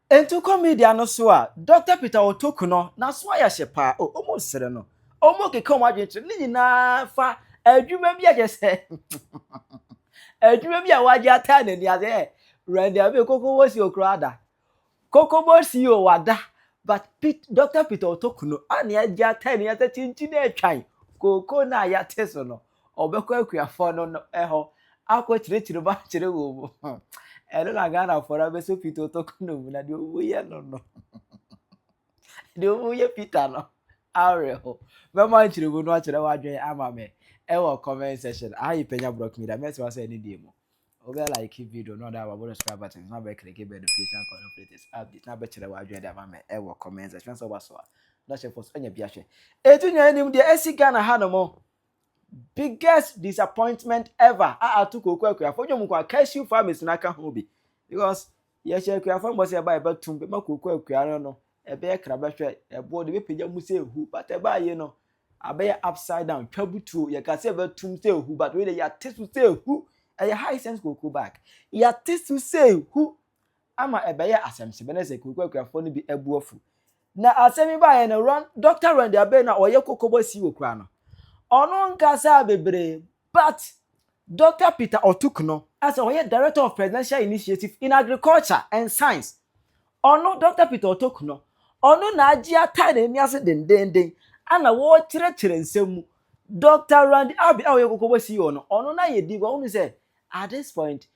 Ntu kɔ media no so a Dɔkta Peter Otoku no n'aso ayɛ hye paa o ɔmo sere no ɔmo keka ɔmo adwene kyerɛ no ne nyinaa fa adwuma bi a kyɛ sɛ adwuma bi a wagye ataa n'ani ase ɛ Randy Abe kokobo si okura ada kokobo si o wada but Pete Dɔkta Peter Otoku no a ne agye ataa n'ani ase kyinkyin atwan kooko no a yɛate so no Ɔbɛkɔ akuafoɔ no no hɔ akɔ kyerɛkyerɛ mu akyerɛ wɔn mu. Ɛno na Ghanafoɔ no abɛsɔ Peter Otoko no mu na deɛ ɔmu yɛ no no. Deɛ ɔmu yɛ Peter no awerɛ ho. Mɛma nkyerɛmu no akyerɛ w'adwene ama me ɛwɔ comment section. Aha yi Panya Brock Media. Mɛsɛ wa sɛ ɛne deɛ mu. Ɔbɛ like video no ɔda wabɔ no subscribe button na bɛ click bɛ notification call no latest update na bɛkyerɛ w'adwene de ama me ɛwɔ comment section sɛ ɔba so a. Na hyɛ fɔ so anya bi ahwɛ. Ɛtu nyɛ anim deɛ ɛsi Ghana ha no mo. biggest disappointment ever a ato kooko akuafo dwom nko a cashew farmers na aka ho bi because yɛhyɛ akuafo mbɔ sɛ ɛba ɛbɛtum bɛma kooko akua no no ɛbɛyɛ kra bɛhwɛ ɛboɔ de bɛpagya mu sɛ ehu but ɛbaa yie no abɛyɛ upside down twa butuo yɛka sɛ ɛbɛtum sɛ ehu but wei de yɛate so sɛ ehu ɛyɛ high sense kooko bag yɛate so sɛ ehu ama ɛbɛyɛɛ asɛmsebɛ na sɛ kurokuakuafoɔ no bi abu afu. Na asɛm yi baeɛ no, Ron, Dɔkta Ron Diabate na ɔyɛ kɔkɔbɔ sii wɔ kura no. Ɔno nkasaa bebree, but Dɔkta Peter Otuk no, a sɛ ɔyɛ Director of Presidential Initiative in Agriculture and Science, ɔno, Dɔkta Peter Otuk no, ɔno na agye atae n'ani ase dendeenden na ɔrekyerɛkyerɛ nsɛm mu. Dɔkta Ron Diabate a ɔyɛ kɔkɔbɔ CEO no, ɔno n'ayɛ din, but wohu sɛ at this point,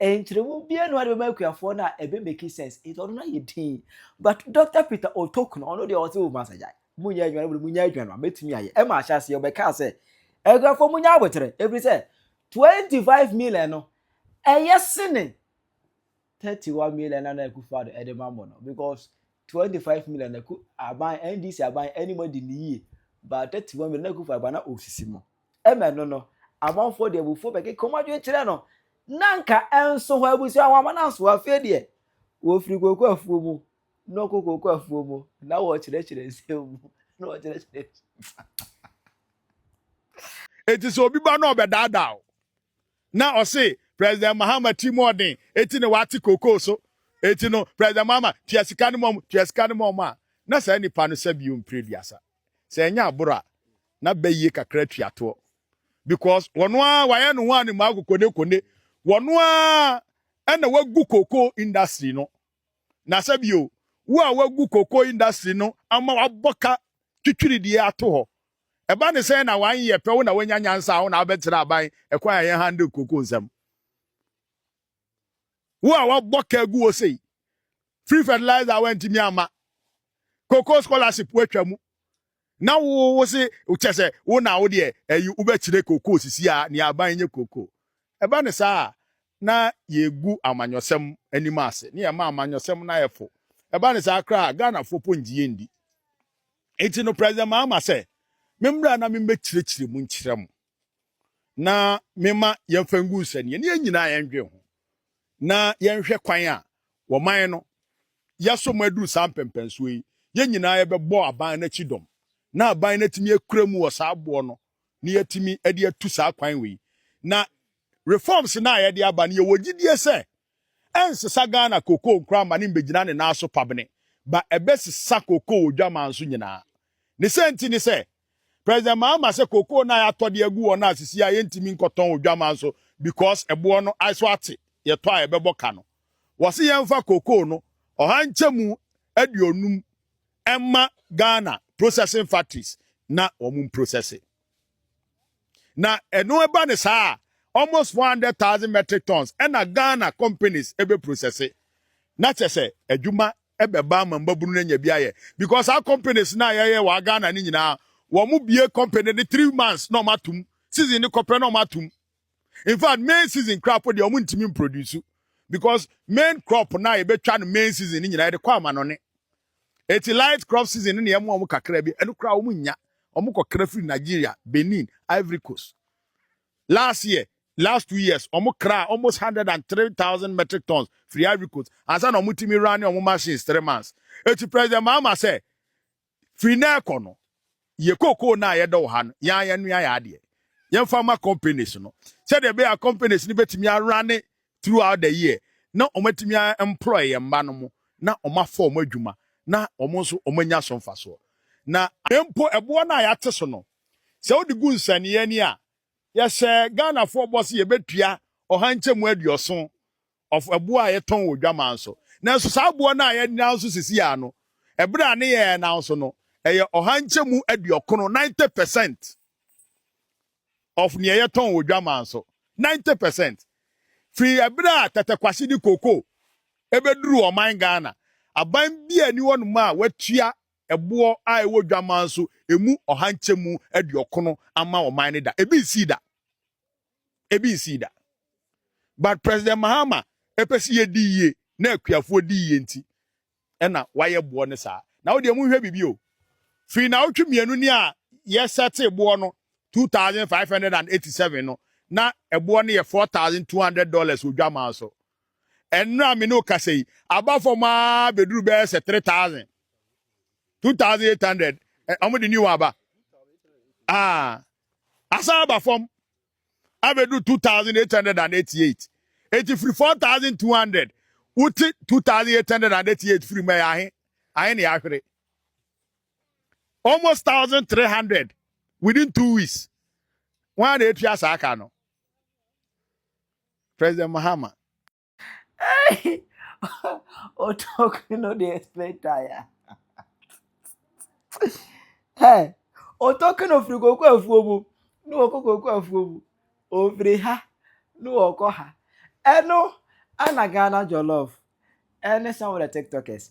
Nkyerɛmu biara nni hɔ a ɛbɛma akuafoɔ no a ɛbɛ make sense nti ɔno no ayɛ din but Doctor Peter Otok no ɔno deɛ ɔse o masa gyae monyɛ adwuma no bere monyɛ adwuma no a mɛtumi ayɛ ɛma ahyɛ aseɛ ɔbɛkaa sɛ akuafoɔ monyɛ abotere ɛfiri sɛ 25 million no ɛyɛ sene 31 million na na akufo ado ɛde ma mo no because 25 million na aban NDC aban anim adi ne yie but 31 million na akufo aba na ɔsisi mo Ɛma ɛno no, amanfoɔ de abufuo bɛkeka wɔn adwene kyerɛ no, na anka ɛnso hɔ abusua ho ama no asoa. Afei deɛ, wɔfiri kooko afuo mu na wɔkɔ kooko afuo mu, na wɔkyerɛkyerɛ nsɛm mu, na wɔkyerɛkyerɛ Enti sɛ obi ba na ɔbɛdaadaa wo, na ɔse President Mahama ti mu ɔden, eti na wate kookoo so, eti no President Mahama tua sika no ma wɔn, tua sika no ma wɔn a, na saa nipa no sɛ bio mprɛ duasa. sɛ ɛnyɛ aboro a na bɛ yie kakra atua toɔ because wɔn ara wɔayɛ ne ho a ne mmaa kokone kone wɔn ara ɛna wagu koko industry no na sɛ bio wo a wagu koko industry no ama wabɔ ka twitwiri deɛ ato hɔ ɛba ne sɛ na wanyɛ pɛ wo na wanya nyansa a wo na abɛtena aban ɛkwan a yɛn handle koko nsɛm wo a wabɔ ka agu wo sei free fertilizer a wantumi ama koko scholarship watwa mu na wo wo se kyɛ sɛ wo na wo deɛ ayi wobɛkyerɛ koko sisi a ne aban nyɛ koko ɛba ne saa a na yɛgu amanyɔsɛm anim ase ne yɛma amanyɔsɛm no ayɛ fo ɛba ne saa koraa ghanafoɔ po ngye yɛndi nti no president maama sɛ memmra na memmɛkyerɛkyerɛ mu nkyerɛ mo na mema yɛmfa ngu nsɛnneɛ ne yɛn nyinaa yɛndwen ho na yɛnhwɛ kwan a wɔman no yɛaso mu aduru saa mpɛmpɛnsoɔ yi yɛn nyinaa yɛbɛbɔ aban no akyi dɔm na aban no atumi akura mu wɔ saa aboɔ no na yɛatumi de atu saa kwan wei na reforms no a yɛde aba no yɛwɔ gyidie sɛ Ɛnsesa Ghana cocoa nkoraa ma ne mbɛgyina ne nan so pabene, ba ɛbɛsesa cocoa wɔ dwaman so nyinaa. Ne sɛnti ne sɛ, President Mahama sɛ cocoa no a yɛatɔ de agu hɔ no a sisi ara yɛntumi nkɔtɔn wɔ dwaman so because ɛboɔ no so ate, yɛtɔ a ɛbɛbɔ ka no. Wɔse yɛmfa cocoa no ɔha nkyɛmu aduonum mma Ghana processing factories na wɔn mprosɛse. na ɛno ɛba ne saa almost four hundred thousand metric tons ɛna ghana companies ɛbɛ processe na kyɛ sɛ adwuma ɛbɛba ama mbabunu no anya bi ayɛ because saa companies na yɛyɛ wɔ ghana no nyinaa wɔn mo bie company ne three months na wɔn atum season ne kɔpɛ na wɔn atum in fact main season kura po deɛ wɔn ntumi produce because main crop na yɛbɛtwa no main season no nyinaa yɛde kɔ ama no ne. Eti light crop season no na yɛmoa wɔn kakra bi, ɛno koraa wɔn nnya, wɔn kɔ kra firi Nigeria, Benin, Ivory Coast. Last year, last two years, wɔn kraa almost hundred and three thousand metric tons firi Ivory Coast, ansa na wɔn tumi run wɔn machines three months. Eti President Mahama sɛ, firi na ɛkɔ no, Yɛ cocoa no a yɛdɔ wɔ ha no, yɛn ara yɛnoa yɛn adeɛ. Yɛmfa mma companies no. Sɛdeɛ ɛbɛyɛ a companies no bɛtumi a runne throughout the year na wɔatumi a employ yɛn mma no mo na wɔafa wɔn adwuma na wɔn nso wɔanya so mfasoɔ. Na. Mpo ɛboɔ no a yɛate so no, sɛ wode gu nsɛnneɛ ani a, yɛhyɛ Ghanafoɔ bɔ sɛ yɛbɛtua ɔha nkyɛmu aduɔson of ɛboɔ a yɛtɔn wɔ dwaman so. Nanso saa boɔ no a yɛnam so sisiaa no, ɛberɛ a ne yɛn nam so no, ɛyɛ ɔha nkyɛmu aduɔkono, 90 percent, of neɛ yɛtɔn wɔ dwaman so. 90 percent! Firi ɛberɛ a Tɛtɛkwahye de cocoa ɛbɛduruu ɔman Ghana, aban biara nni hɔnom a watua ɛboɔ a ɛwɔ dwaman so ɛmu ɔha nkyɛmu aduɔkono ama ɔman no da. Ɛbi nsii da. ebi nsii da but president mahama ɛpɛ sɛ yɛdi yie na akuafoɔ di yie nti ɛna wayɛ boɔ no saa na wodeɛ monhwɛ biribi o firi na wotwe mmienu ni a yɛsɛte boɔ no 2587 no na ɛboɔ no yɛ 4200 dollars odwamaa so ɛnora a me ne okasa yi aba fam a bɛduru bɛyɛ sɛ 3000 2800 ɔmo de new aba ah asan aba fam abɛduru 2888 enti firi 4200 wote 2888 firi mu ɛyɛ ahe ahe ne ahwere almost 1300 within two weeks wọn a na etua saa ka no president mahama Hey! Oh, talk, you know the explain tire. Hey! Oh, talk, no free go kwa fuomu. No oko go kwa fuomu. Oh, free ha. No oko ha. Eno, ana Ghana jollof. Any some of the TikTokers.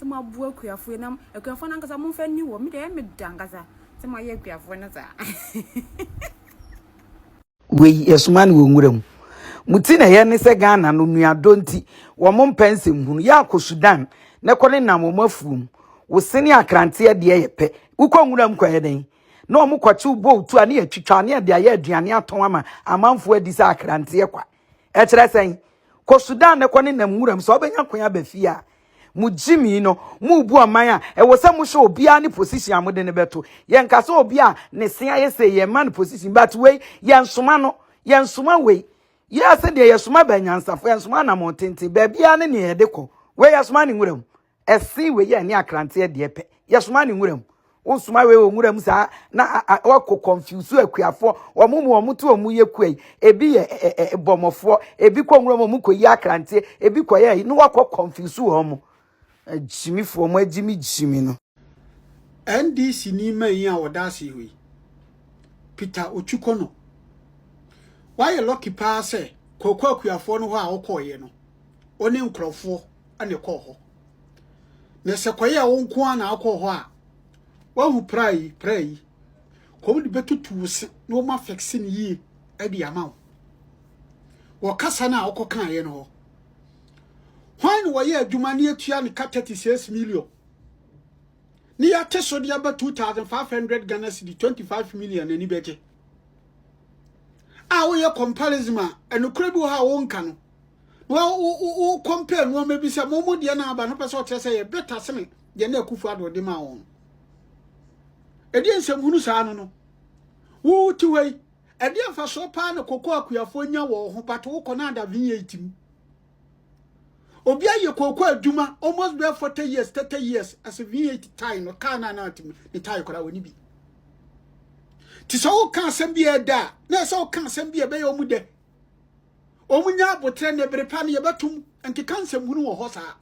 sɛ mo aboa akuafoɔ na akuafoɔ no ankasa mo nfa ni wɔ me deɛ ɛyɛ me da ankasa sɛ mo ayɛ akuafoɔ no saa wei yɛsoma no wɔ nwura mu mo ti na ɛyɛ ne sɛ ghana no nuadɔ nti wɔn mpɛ nsɛm hunu yɛ akɔ sudan na ɛkɔ ne nam wɔn afuom wo sene akranteɛ deɛ yɛ pɛ wokɔ nwura mu kɔyɛ dɛn na wɔn kɔkye wo bɔ otu a ne yɛtwitwa ne yɛde ayɛ aduane atɔn ama amanfoɔ adi sɛ akranteɛ kwa ɛkyerɛ sɛn kɔ sudan ne kɔ ne nam wuram sɛ ɔbɛnya kwan aba fie a mo gyimi no mo bu ɔman a ɛwɔ sɛ mo hwɛ obiara ne position a mo de ne bɛto yɛn ka sɛ obi a ne se ayɛ sɛ yɛn ma no position but wei yɛn soma no yɛn soma wei yɛ asɛ deɛ yɛn soma bɛnyansafo yɛn soma anamɔn tenten baabiara ne nea yɛde kɔ wei yɛn soma ne wuram ɛsen wei yɛ ne akranteɛ deɛ pɛ yɛsoma ne nwura mu wosoma wei wɔ nwura mu saa na wɔkɔ kɔnfiusu akuafoɔ wɔn mu wɔn to wɔn yɛ kua yi ebi yɛ ɛ ɛ bɔmɔfoɔ ebi kɔ nwura mu wɔn kɔ yi akranteɛ ebi kɔ yɛ yi na wɔkɔ kɔnfiusu wɔn mo agyimifoɔ mo agyimi gyimi no. NDC ni manyin a wɔda ase hɔ yi Peter Otwikono wayɛ lɔki paa sɛ kɔkɔ akuafoɔ no hɔ a ɔkɔɔyɛ no ɔne nkurɔfoɔ na ɛkɔɔ hɔ. Na sɛ kɔyɛ wo nko ara na akɔ hɔ a, wahu pra yi, pra yi, kɔm de bɛtutu wo se na wɔn afɛkse no yie de ama wo. Wɔ kasa no a wokɔ kaeɛ no hɔ, hwan na wɔyɛ adwuma ne atua no ka 36 million ne yɛate so de aba 2500 Ghana cedi 25 million n'ani bɛgye a woyɛ comparison a ɛnokorɛ bi wɔ hɔ a wonka no na wo compare nneɛma bi sɛ mo mo deɛ na aba no pɛ sɛ ɔkyerɛ sɛ yɛ beta sene deɛ na akufo ado ɔde maa wɔn ɛdeɛ nsɛmhunu saa no no wo ti hɔ yi ɛdeɛ mfasoɔ paa na koko akuafoɔ nya wɔ ho but wokɔ na ada vin eight mu obi ayɛ koko adwuma almost bɛyɛ forty years thirty years ɛsɛ vin eight tie no kaa na na atim ne tie koraa wɔ ne bi te sɛ woka asɛm bi ɛda a na ɛsɛ woka asɛm bi ɛbɛyɛ ɔmo dɛ Wɔn nya abotrɛ ne bere pa no yɛbɛtum nkeka nsɛmhunu wɔ hɔ saa.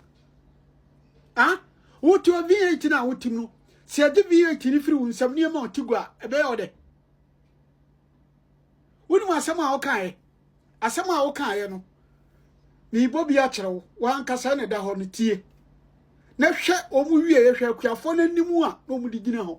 Ah, wote wɔ V8 no a wotim no, sɛ yɛde V8 no firi wo nsɛm nneɛma ɔte gu a, ɛbɛyɛ wo dɛ. Wonim asɛm a wokaeɛ, asɛm a wokaeɛ no, meebɔ bi akyerɛ wo, wankasa na ɛda hɔ no tie. Na hwɛ wɔn wie, hwɛ akuafoɔ no anim a na wɔde gyina hɔ.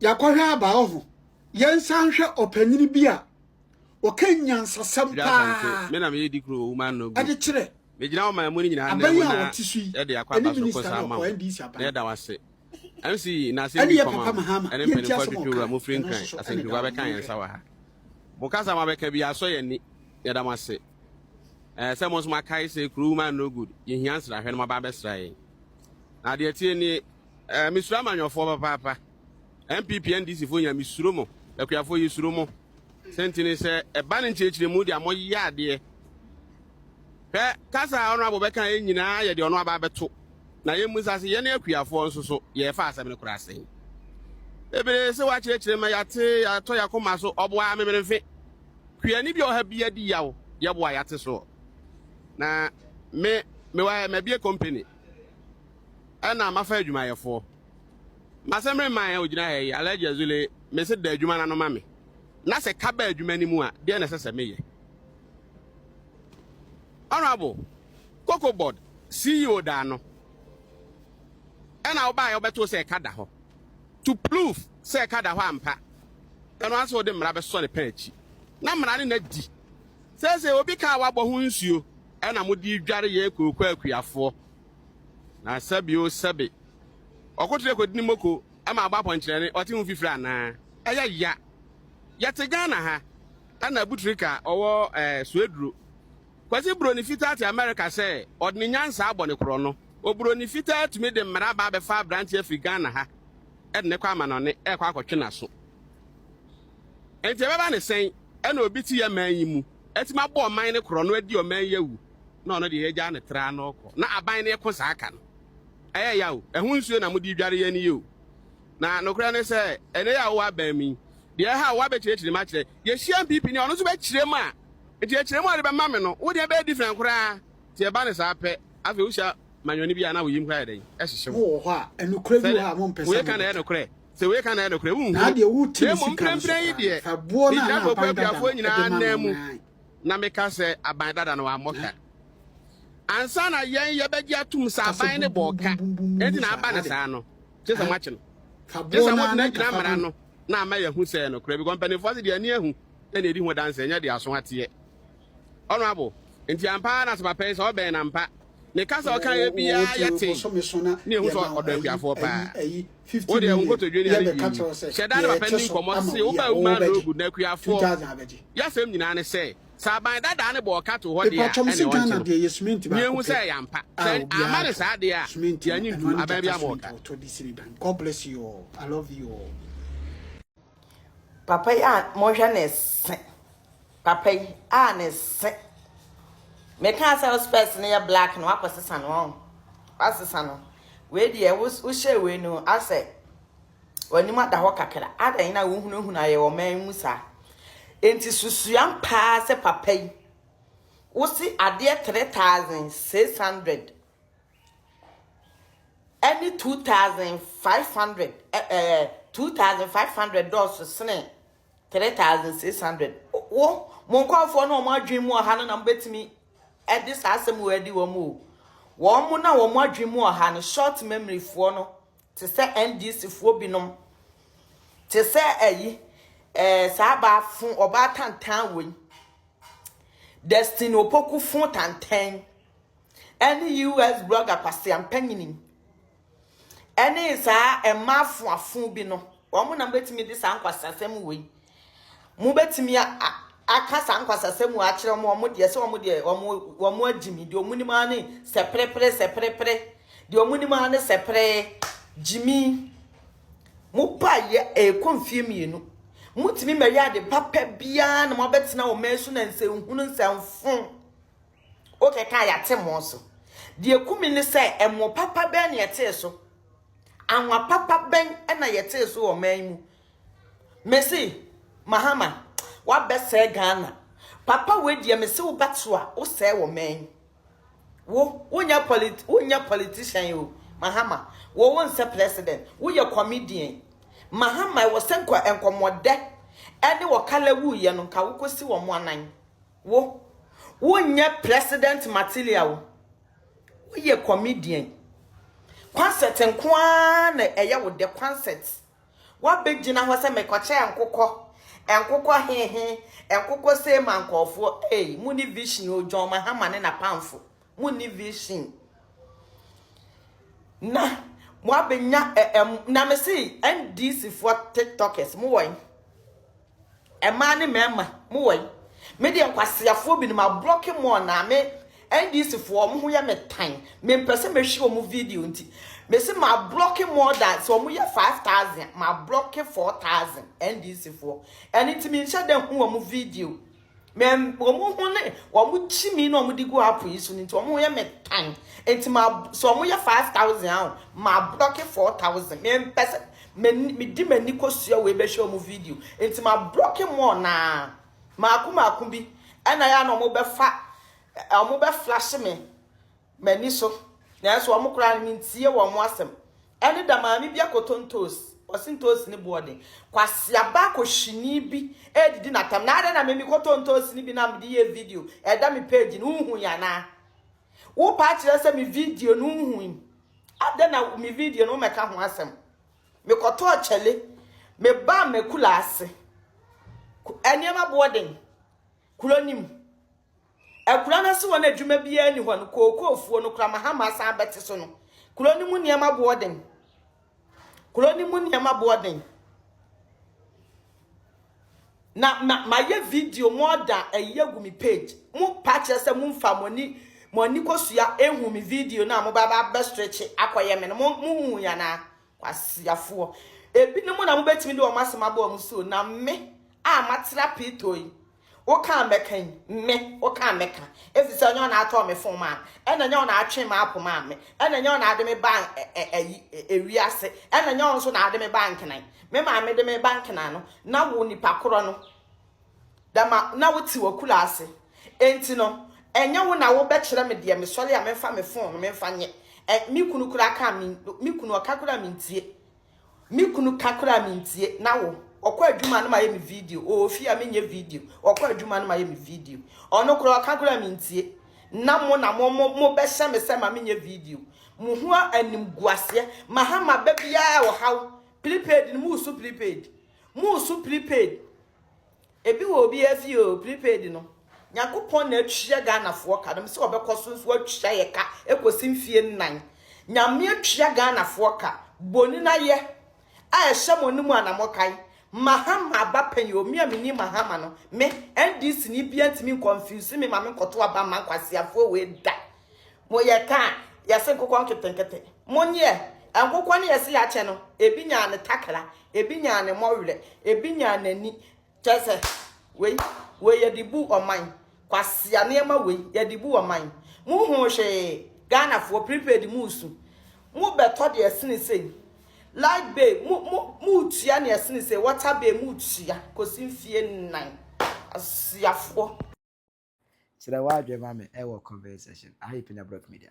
Yɛakɔhwɛ aba ɔho. Yɛnsa nhwɛ ɔpanyin bi a ɔka nyansasɛm paa de kyerɛ Megyina ɔman mu no nyinaa nnɛ mu na yɛde akɔ aba so kosa ama wo na yɛda wo ase. MC yi na asɛm bi kɔma wo ɛne mpanyinfoɔ atwitwi wura mo firi nkran asɛntibua bɛka yɛn nsa wɔ ha. Mo kasa mo abɛka bi asɔ yɛn ani yɛda mo ase. Ɛɛ sɛ mo nso mo akae sɛ kuro woman no good yɛhia nsrahwɛ no mo aba abɛsra yɛn. Na deɛ ɛteɛ nie Eh mesuro amanyɔfoɔ papaapa NPP NDC foɔ nyina mesuro mo akuafoɔ yɛ suro mo sɛnti ne sɛ ɛba ne nkyerɛkyerɛ mu deɛ mo yɛ adeɛ hwɛ kasa a ɔno abo bɛka yɛ nyinaa yɛ deɛ ɔno aba abɛto na yɛ mu sa se yɛne akuafoɔ nso so yɛ fa asɛm no koraa sɛn ebere se wakyerɛkyerɛ ma yɛate yɛatɔ yɛakoma so ɔboa memerefe kuani bi ɔha bi adi yaw yɛboa yɛate soɔ na me mewɔ mabie company ɛna mafa adwumayɛfoɔ. Mase meremma yɛn a ɔgyina ha yi, Alhaji Azule, mese da adwuma no ano ma me. Na sɛ ka ba adwuma no mu a, deɛ na ɛsɛ sɛ meyɛ. Honorable, Cocoa Board CEO da ano, ɛna wobaa yɛ wobɛtoo sɛ ɛka da hɔ. To prove sɛ ɛka da hɔ ampa, ɛno ara sɛ wode mmara bɛsɔ ne pɛn akyi. Na mmara ne na di. Seesei obi kaa wabɔ ho nsuo ɛna mode dware yɛn kurokuo akuafoɔ. Na sɛbi o sɛbi, ɔkotoyɛ kɔdi ne moko ma abɔ apɔnkyerɛne, ɔte ho fifiri anaa? Ɛyɛ ya. Yɛte Ghana ha, ɛna Abutrika a ɔwɔ eh, Sueduro. Kwasi buroni fitaa te Amerika sɛ ɔde ne nyansa abɔ ne korɔno. Oburoni fitaa atumi de mmara aba abɛfa aberante afiri Ghana ha de ne kɔ amanɔne ɛrekɔ akɔtwe n'aso. Enti ɛbɛba ne sɛn ɛna obi te yɛ man yi mu? Atumi abɔ ɔman no korɔ no adi ɔman yi awu na ɔno deɛ yɛgyaa no traa na ɔkɔ na aban no ɛko saa ka no ɛyɛ ya o ɛho nsuo na mode dware yɛn yi o na nokorɛ ne sɛ ɛnɛ yi a wowɔ aban mu yi deɛ ɛha wo abɛkyerɛkyerɛ mu akyerɛ yɛhyia mpp ni ɔno nso bɛkyerɛ mu a nti ɛkyerɛ mu a ɔde bɛma me no wo deɛ bɛyɛ different koraa nti ɛba ne saa pɛ afei wohyia manyɔne bi a na woyim koraa yɛ dɛn ɛhyehye wo Mo wɔ hɔ a, nokorɛ bi wɔ hɔ a mompɛ sɛ sɛ woyɛ ka na ɛyɛ mobɛka. nokorɛ. Sɛ wei ka na ɛyɛ nokorɛ, wonhunu. Na mmom mprɛmprɛn yi deɛ, megya Bɔkɔ Abuafoɔ nyinaa ananmu, na meka sɛ aban dada no wammɔ ka. Ansa na yɛn yɛbɛgye atom sɛ aban no bɔɔ ka, enti na aba no saa no, gye sɛ moakye no. Gye sɛ mogyinagyina mmara no na ama yɛahu sɛ ɛyɛ nokorɛ, because mpanimfoɔ ase deɛ ani ahu na ɛdi ho adanseɛ, ɛnyɛ deɛ aso ateɛ. Honourable, nti ampa ara na Sapapɛ yi sɛ ɔbɛn no ampa? Ne kasa a ɔkaeɛ biara yɛ tee ne ɛhu sɛ ɔdɔ akuafoɔ paa. Wo deɛ wo nkotodwe ne ade wie yi, hyɛ da ne papa nni nkɔmmɔ se wo baa wo man no good na akuafoɔ yasɛm nyinaa ne sɛ, sɛ aban dadaa no bɔ ɔka too hɔ deɛ a ɛne ɔnkye no. Nea ɛhu sɛ ɛyɛ ampa, sɛ amma no saa deɛ a yɛanye ntom, aban biara ma ɔka. Papa yi a monhwɛ ne se. Papa yi a ne se. Meka sɛ wo spɛs no yɛ black no wakɔ sesa no ɔn. Wasesa no. Wei deɛ wohyɛ wei no asɛ w'anim ada hɔ kakra. Adɛn na wohunahuna ayɛ wɔ man mu saa. Enti susuam paa sɛ papa yi wosi adeɛ 3600 ne 2,500 ɛ ɛ 2,500 dɔɔso sene 3,600. Wo mo nkurɔfoɔ na wɔn adwene mu ɔha no na mobɛtumi de saa asɛm wɔ adi wɔn o. Wɔn mo na wɔn adwene mu ɔha no short memoryfoɔ no te sɛ NDCfoɔ binom te sɛ ayi ɛɛ saa baafo ɔbaa tantan wei Destiny Opoku fo tantan ɛne US blogger Kwasi Ampanyini ɛne saa ɛma afoafo bi no wɔn na mobɛtumi de saa nkwasasɛm wei mobɛtumi aka saa nkwasasɛm wei akyerɛ wɔn wɔn deɛ sɛ wɔn deɛ wɔn wɔn agyimi deɛ wɔn nim ara ne sɛprɛprɛ sɛprɛprɛ deɛ wɔn nim ara ne sɛprɛ gyimi mo pa yɛ ɛkɔ mfie mmienu motumi mɛyɛ ade papa biara na mobɛtena wɔn mɛn so na nsɛnhunu nsɛnfo Wokɛka a, yɛate mo so. Deɛ ɛku me ne sɛ, ɛmo papa bɛn na yɛtee so? Anwa papa bɛn na yɛtee so wɔ ɔman yi mu? Mese, Mahama, wabɛsɛe Ghana. Papa wei deɛ mese wo bɛto a, wosɛe wɔ ɔman yi. Wo, wonyɛ polit, wonyɛ politician o, Mahama. Wo, wonsɛ president. Woyɛ comedian. Mahama, ɛwɔ sɛ nkɔ, nkɔmmɔdɛ ɛne wɔ kala wuiɛ no, nka wokɔsi wɔn anan. Wo wo nyɛ president material wo yɛ comedian concert nko ara na ɛyɛ wo dɛ concert wa bɛ gyina hɔ sɛ mɛ kɔ kyɛ nkokɔ nkokɔ he he nkokɔ sɛ ma nkɔfoɔ ei mu ni vision o John Mahama ne na pamfo mu ni vision na mo abɛ nya ɛm na mɛ si NDC foɔ tiktokers mo wɔn. Mmaa ne mmarima mo wɔ he? Me deɛ nkwaseafoɔ binom ablɔke mo anaa me NDC foɔ wɔn ho yɛ me tan mempɛ sɛ mɛhwɛ wɔn video nti mese mablɔke more than sɛ wɔn yɛ 5000 mablɔke 4000 NDC foɔ ɛno nti menhyɛ dɛ ho wɔn video Mɛm wɔn ho ne wɔn kyimi na wɔn de gu app yi so no nti wɔn ho yɛ mɛ tan nti ma sɛ wɔn yɛ five thousand ahụ ma blɔki four thousand mɛ mpɛ sɛ mɛ mɛ di mɛ ni kɔ sua wei bɛhwɛ wɔn video nti ma blɔki mɔɔ naa maako maako bi ɛna yɛ na wɔn bɛfa wɔn bɛ flash me m'ani so nanso wɔn koraa no mentie wɔn asɛm ɛne da maame bi akɔtɔ ntoosi ɔse ntoosi ne boɔ den kwasea ba kɔhyini bi ɛredidi natam na adɛn na me mekɔtɔ ntoosi no bi na mede yɛ video ɛda me page no wohu yɛ anaa wopa akyerɛ sɛ me video no wohu yi adɛn na me video no womɛka ho asɛm mekɔtɔ ɔkyɛle meba makula ase nneɛma boɔ den kuro nim Akuraa no ase hɔ no adwuma biara nni hɔ no, kookoofuo no, kramahama asan abɛte so no. Kuro no mu nneɛma boɔ den. Kuro no mu nneɛma boɔ den. Na ma mayɛ video mo ɔda ɛyi agu me page. Mo pa kyerɛ sɛ mo nfa mo ani mo ani kosua ehu me video na mo ba ba bɛ stretch akɔyɛ me no mo mo hu yana. Kwaseafoɔ. Ebinom na mobɛtumi de wɔn asɛm abɔ wɔn so o, na me a matera Pito yi, wo ka a mɛka yi, me, wo ka a mɛka. Ɛfiri sɛ ɛnyɛ wo na atɔɔ me fon maa me, ɛna ɛnyɛ wo na atwe m'apo maa me, ɛna ɛnyɛ wo na ade me baa ɛ, ɛ, ayi, ɛ, ewiase, ɛna ɛnyɛ wo nso na ade me baa Nkenan. Me maame de me ba Nkenan no, na wo nipa korɔ no. Dɛm a, na wotse w'akuraase. Ntsi no, nnyɛ wo na wobɛkyerɛ me deɛ mesɔre a memfa me fon no memfa nyɛ. Ɛ, me kunu koraa ka a min, me kunu ɔka koraa a mentie. Me kunu ka koraa a mentie. Na wo? Ɔkɔ adwuma a na mayɛ me video. Ɔwɔ fie a menyɛ video. Ɔkɔ adwuma a na mayɛ me video. Ɔno koraa ɔka koraa a mentie. Na mo na mo, mo, mobɛhyɛ me sɛ ma menyɛ video. Mo ho animguaseɛ. Maha maba biara ɔhaw. Prepaid no, moresu prepaid. Moresu prepaid. Ebi wɔ obiara fie o, prepaid no. Nyankopɔn na atua Ghanafoɔ ka no. Sɛ ɔbɛkɔ so nso atua yɛ ka ɛkɔsi mfie nnan. Nyame atua Ghanafoɔ ka. Boni na yɛ a ɛhyɛ mo no mu ana mokae. Mahama aba pɛn yi o, me a menim Mahama no, me, NDC ni biara ntumi nconfuse me ma menkɔto aba mma nkwaseafoɔ wei da. Mo yɛ ta a yɛse nkokɔ nketenkete. Mo nyeɛ nkokɔ no yɛse yɛakyɛ no ebi nyaa ne takra ebi nyaa ne mɔwerɛ ebi nyaa n'ani kyɛ sɛ wei wei yɛde bu ɔman kwasea nneɛma wei yɛde bu ɔman mo ho hwee Ghanafoɔ prepaid mo su mo bɛtɔ deɛ ɛsene sei light bay mo mo mo tua deɛ ɛsene sei water bay mo tua kɔsi mfie nnan asiafoɔ. Kyerɛ w'adwene ma me ɛwɔ comment section aha yɛ Pina Brock Media